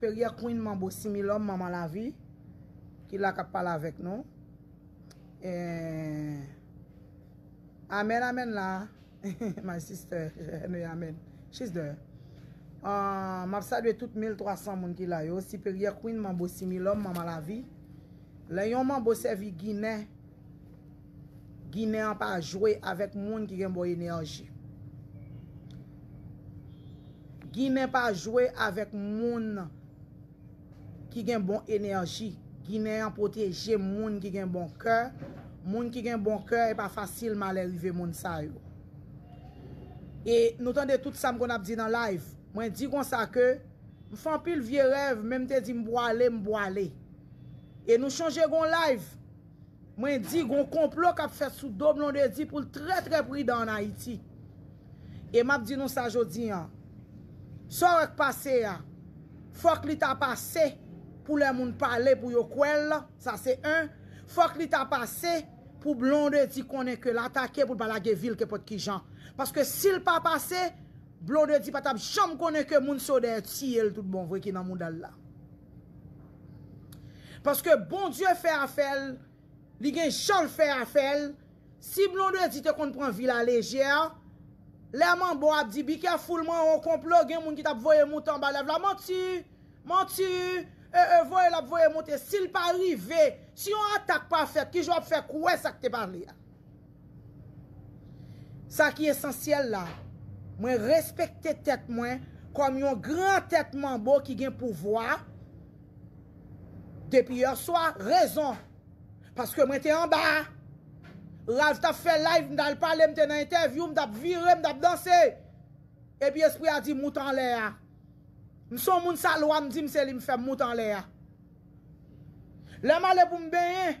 Perier Queen Manbo Similom Manman Lavi ki la kap pale avek nou eeh Amen amen la My sister Anyway amen She's there aah Map salye tout 1300 moun ki la yo Siperyè Queen Manbo Similom Manman Lavi Lè yon Manbo sèvi Ginen. Ginen an pa jwe avèk moun ki gen bon enèji. Ginen pa jwe avèk moun ki gen bon enèji. Ginen an pwoteje moun ki gen bon kè. Moun ki gen bon kè e pa fasil malè rive moun sa yo. E nou tande tout sa m konn ap di nan live. Mwen di konsa ke m fè anpil vye rèv men m te di m pwale m pwale. E nou chonje gon live. Mwen di gon konplo kap fèt sou do Blondedy pou l trè trè pridan an Ayiti. E map di nou sa jodi an, sa w wè k pase a, fòk li ta pase pou lè moun pale pou yo kwè l, sa se 1, fòk li ta pase pou Blondedy konnen ke l atake pou l pa lage vi l kenpòt ki jan. Paske si l pa pase, Blondedy pa tap janm konnen ke moun se yo dèyè tiye l tout bon vre ki nan mouda l la. Paske Bondye fè afèl, li gen janl fè afèl, si Blondedy te konn pran vi la lejè, lè manbo ap di be careful man on konplo gen moun ki tap voye moute anba lèv la manti, manti, ee voye lap voye moute sil pa rive, si yon atak pa fèt kijan wap fè kwè sak te pale a. Sa ki esansyèl la, mwen respekte tèt mwen kòm yon gran tèt manbo ki gen pouvwa, depi yè swa, rezon, paske mwen te anba, Ralph tap fè live, m tal pale, m te nan entèvyou, m tap vire, m tap danse, epi espri a di mout anlè a, m son moun sa lwa m di m se li m fè m mout anlè a. Lè m ale pou m benyen.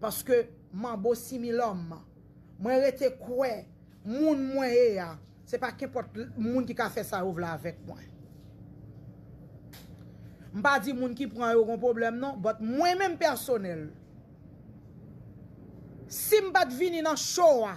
Paske manbo similòm Mwen rete kwè moun mwen ye a se pa kenpòt moun ki ka fè sa yo vle avèk mwen M pa di moun ki pran yo gon pwoblèm non But mwen menm pèsonèl Si m pat vini nan show a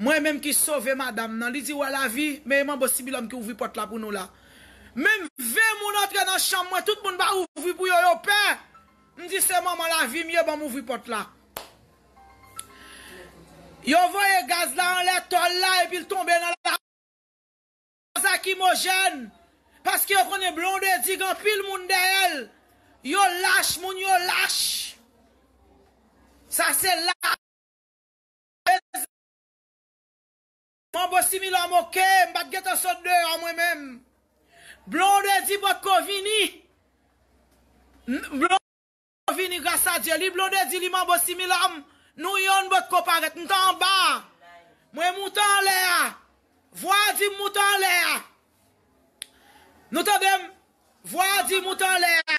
Mwen menm ki sove madam nan. Li di wè lavi, men e manbo sibilòm ki ouvri pòt la pou nou la. Menm 20 moun antre nan chanm mwen, tout moun pa ouvri pou yo, yo pè. M di se manman lavi m ye, ban m ouvri pòt la. Yo voye gaz la anlè tòl la epi l tonbe nan la. Gaz lakimojèn, paske yo konnen Blondedy gen anpil moun dèyè l. Yo lach, moun yo lach. Sa se lach. Manbo similò moke, m pat gentan sot deyò mwen menm. Blondedy potko vini Blondedy vini gras a Dye li Blondedy li manbo similò m nou yonn potko parèt m t anba a mwen moute anlè a vwa a di m moute anlè a nou tande m vwa a di moute anlè a.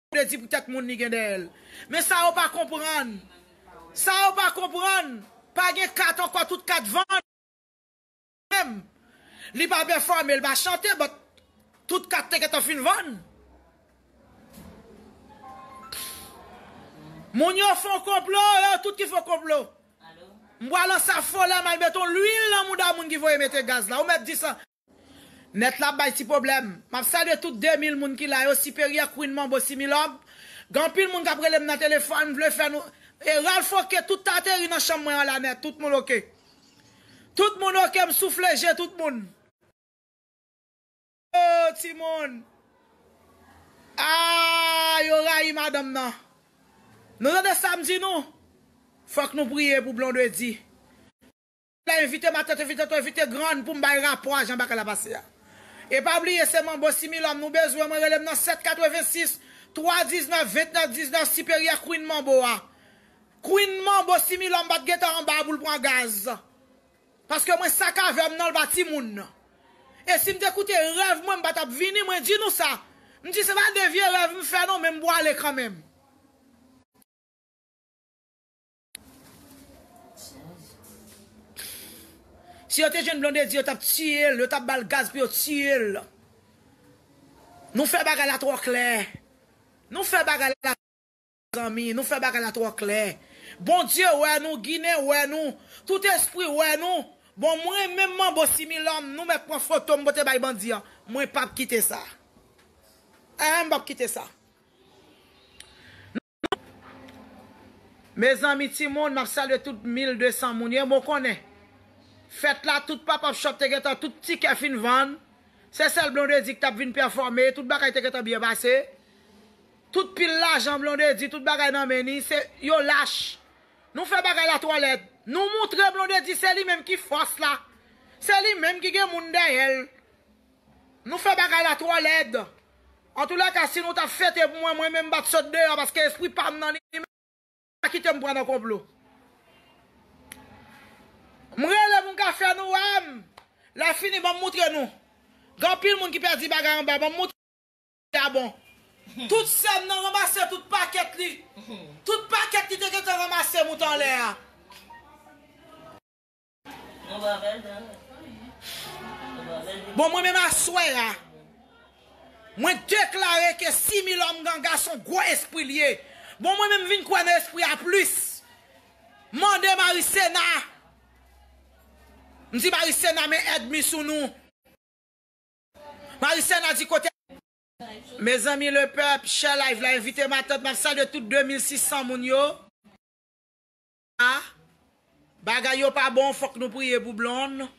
vle di pou tèt moun li gen dèyè l. Men sa yo pa konprann, sa yo pa konprann, pa gen kat ankò tout kat vann. Menm, li pa pèfòme, l pa chante but tout kat te gentan fin vann. Moun yo fon konplo, yo tout ki fon konplo. M pral ansaffolè m al met on lwil nan mouda moun ki voye mete gaz la. Ou mèt di sa. Nèt la ap bay ti pwoblèm. Map salye tout 2000 moun ki la yo, Siperyè, Queen Manbo, Similòm. Gen anpil moun kap relem nan telefòn, vle fè nou E Ralph ok, tout ta ateri nan chanm mwen an la nèt, tout moun ok. Tout moun ok, m soufle je tout moun. Oh timoun Aah yo rayi madanm nan Nou tande sam di nou Fòk nou priye pou Blondedy. La invite ma tante vite to invite grann poum bay rapò a jan bagay la pase a e pa bliye se manbo similom nou bezwen mwen relem nan 7 86 3 19 29 19 siperyè queen manbo a queen manbo similom pat gentan anba a poul pran gaz paske mwen sakavem nan lpa timoun e sim te koute rèv mwen mpa tap vini mwen di nou sa mdi se pa de vye rèv mfè non men mpwale kanmenm. Si yo te jwenn Blondedy yo tap tiyel, yo tap bal gaz pou yo tiyel. Nou fè bagay la twò klè. Nou fè bagay la zanmi, nou fè bagay la twò klè. Bondye wè nou, ginen wè nou, tout espri wè nou. Bon mwen menm manbo similòm nou mèt pran foto m pote bay bandi an, mwen pap kite sa. Eeh m pap kite sa. Mezanmi timoun map salye tout 1200 moun yo bon konnen fèt la tout pop up shop te gentan tout tikè fin vann se sèl Blondedy ki tap vin pèfòme tout bagay te gentan byen pase tout pil lajan Blondedy tout bagay nan men li se yo lach nou fè bagay la twò lèd nou moutre Blondedy se li menm ki fòs la se li menm ki gen moun dèyèl. Nou fè bagay la twò lèd. Antoulèka si nou tap fete pou mwen mwen menm mbat sot deyò paske espri pam nan li menm pa kitem pran nan konplo. M rele moun ka fè nou wèm. Lè fini banm moutre nou. Gen anpil moun ki pèdi bagay anba banm moutre nou si a bon. Tout sèm nan ranmase tout pakèt li tout pakèt li te gentan ranmase moute anlè a. Bon mwen menm aswè a, mwen deklare ke Similom Ganga son gwo espri li ye. Bon mwen menm vin kwè nan espri a plis. Mande Maricena. M di Maricena men èd mi sou nou. Maricena di kote. Mezanmi le pèp, share live la, envite matant, map salye tout 2600 moun yo. A, Bagay yo pa bon fòk nou priye pou Blonde,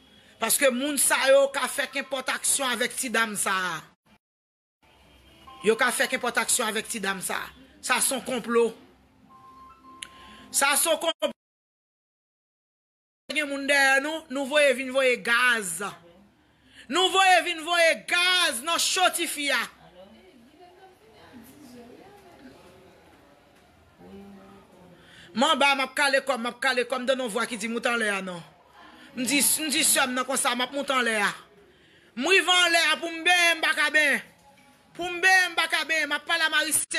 paske moun sa yo ka fè kenpòt aksyon avèk ti dam sa a. Yo ka fè kenpòt aksyon avèk ti dam sa a. Sa son konplo. Sa son konplo. Gen moun dèyè nou, nou voye vin voye gaz. Nou voye vin voye gaz nan cho tifi a. Manba map kale kòm map kale kòm mtande yon vwa ki di moute anlè a non mdi mdi sèm nan konsa map moute anlè a mrive anlè a poum benyen mpaka benyen poum benyen mpaka benyen map pale a marise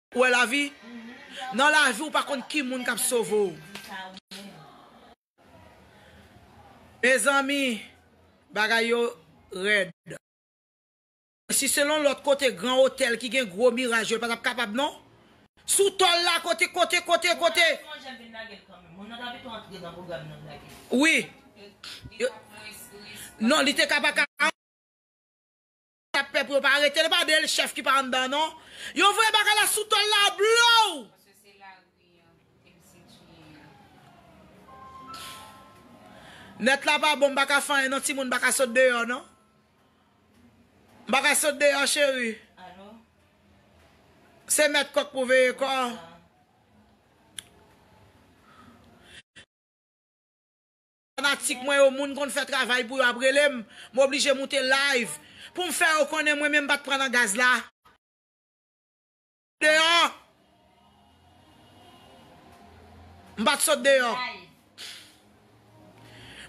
Ou wè lavi? Nan lavi ou pa konn ki moun kap sove w. Mezanmi bagay yo rèd. Si selon lòt kote gran otèl ki gen gwo miraj yo l patap kapab non. Sou tòl la kote kote kote kote. Wi. Non li te ka pa ka. Tap pè pou yo pa aretel epa de l chèf ki pa anndan non yo voye bagay la sou tol la blow. Net la pa bon m paka fè anyen non timoun m paka sot deyò non m paka sot deyò cheri se met kok pou veye kò. Fanatik mwen yo moun konn fè travay pou yo ap relem m oblije moute live poum fè yo konnen mwen menm m pat pran nan gaz la deyò m pat sot deyò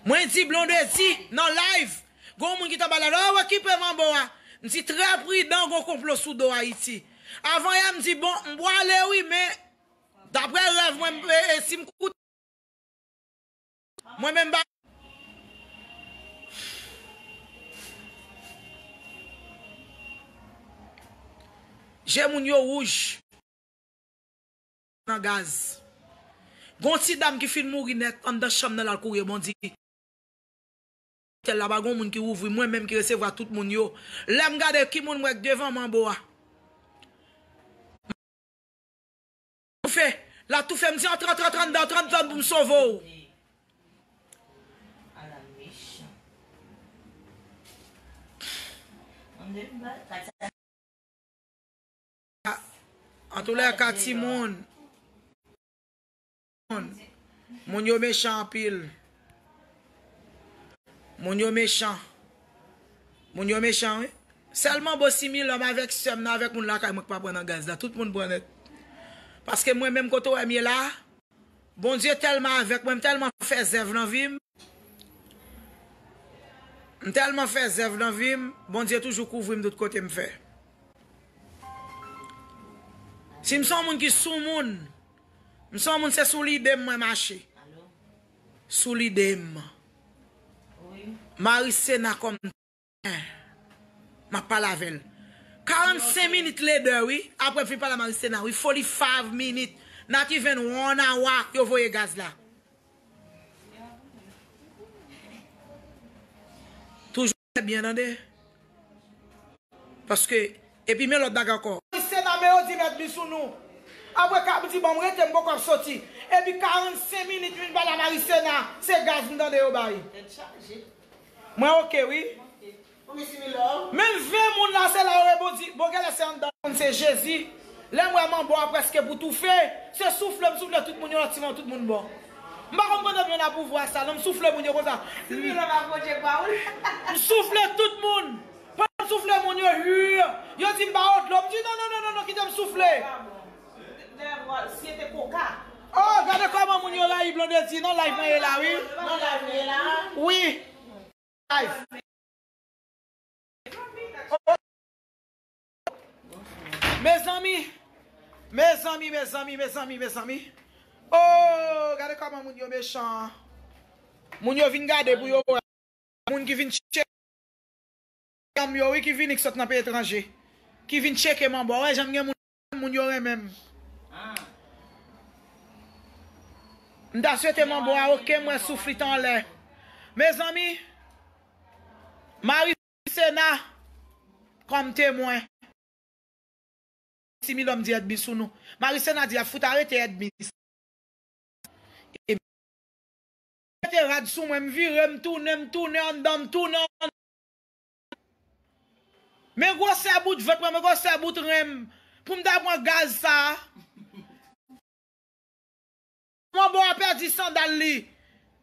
mwen di Blondedy nan live gon moun ki ta bay la oh okipe manbo a m di trè pridan gon konplo sou do Ayiti avan yè m di bon m pwale wi men daprè rèv mwen m sim koute. Mwen menm pa. Je moun yo wouj. Nan gaz. Gon ti dam ki fin mouri nèt anndan chanm nan lal kouri e bondi. Tèl la pa gon moun ki ouvri mwen menm ki resevwa tout moun yo. Lèm gade ki moun m wè k devan m anbo a. Toufe la toufe m di an tran tran tran dan tran dan pou m sove w. Antoulèka timoun moun yo mechan anpil. Moun yo mechan. Moun yo mechan wi. Sèl manbo similòm avèk sèm nan avèk moun lakay mwen ki pa pran nan gaz la. Tout moun pran nèt. Paske mwen menm kote ou wè m ye la a, Bondye tèlman avèk mwen, m tèlman fè zèv nan vi m, m tèlman fè zèv nan vi m, Bondye toujou kouvri m tout kote m fè. Si m son moun ki soumoun. M son moun se sou lidem mwen mache. Sou lidem. Marisena kom tenten. Map pale avel. 45 minit lede wi. Aprem fin pale a marisena wi. Foli fav minit. Nati ven won a wa yo voye gaz la. Trè byen tande. Paske epi men lòt bagay ankò. Ti sena men yo di mèt vin sou nou. Apre kap di banm rete m poko ap soti. Epi 45 minit m vin pale a Marie Sena se gaz m tande yo bay. Tèt chaje. Mwen ok wi. Ou mesi wi love. Menm 20 moun la se la yo reponn di bon genlè se anndan. Konn se Jezi. Lèm wè manbo a preske pou toufe. Se soufle m soufle tout moun yon lòt ti manbo tout moun bon. M pa konn kote m jwenn apouvwa sa non m soufle moun yo konsa m soufle tout moun pandan m soufle moun yo huuumm yo di m ba yo dlo m di nonnonnonnon kite m soufle oh gade kòman moun yo rayi Blondedy nan live mwen ye la wi wi. Mezanmi Mezanmi mezanmi mezanmi mezanmi Ooh gade koman moun yo mechan Moun yo vin gade pou yo wè Moun ki vin tcheke Medam yo wi ki vini ki sot nan peyi etranje Ki vin tcheke manbo wè jan m gen moun Moun yo renmen m M ta swete manbo a ok m wè souf li t anlè Mezanmi Marie Sena kòm temwen. Si Milòm di èdmi sou nou. Mari Sena di yap fout arete èdmi sa yo. Yo mete rad sou mwen, m vire, m tounen, m tounen anndan, m tounen anndan. Men gwosè bout vant mwen, men gwosè bout ren m. Pou m ta pran gaz sa a. Manbo a pèdi sandal li.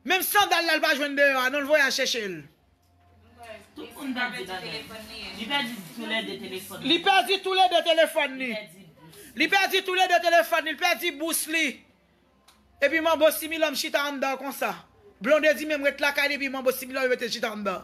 Menm sandal la li pa jwenn deyò a non li voye al chèche l. Tout moun ta di bagay. Li pèdi tou lè 2 telefòn li. Li pèdi tou lè 2 telefòn li. Li pèdi tou lè 2 telefòn li. Li pèdi bous li. Epi manbo similòm chita anndan konsa. Blondedy menm ret lakay li epi manbo similòm yo mete l chita anndan.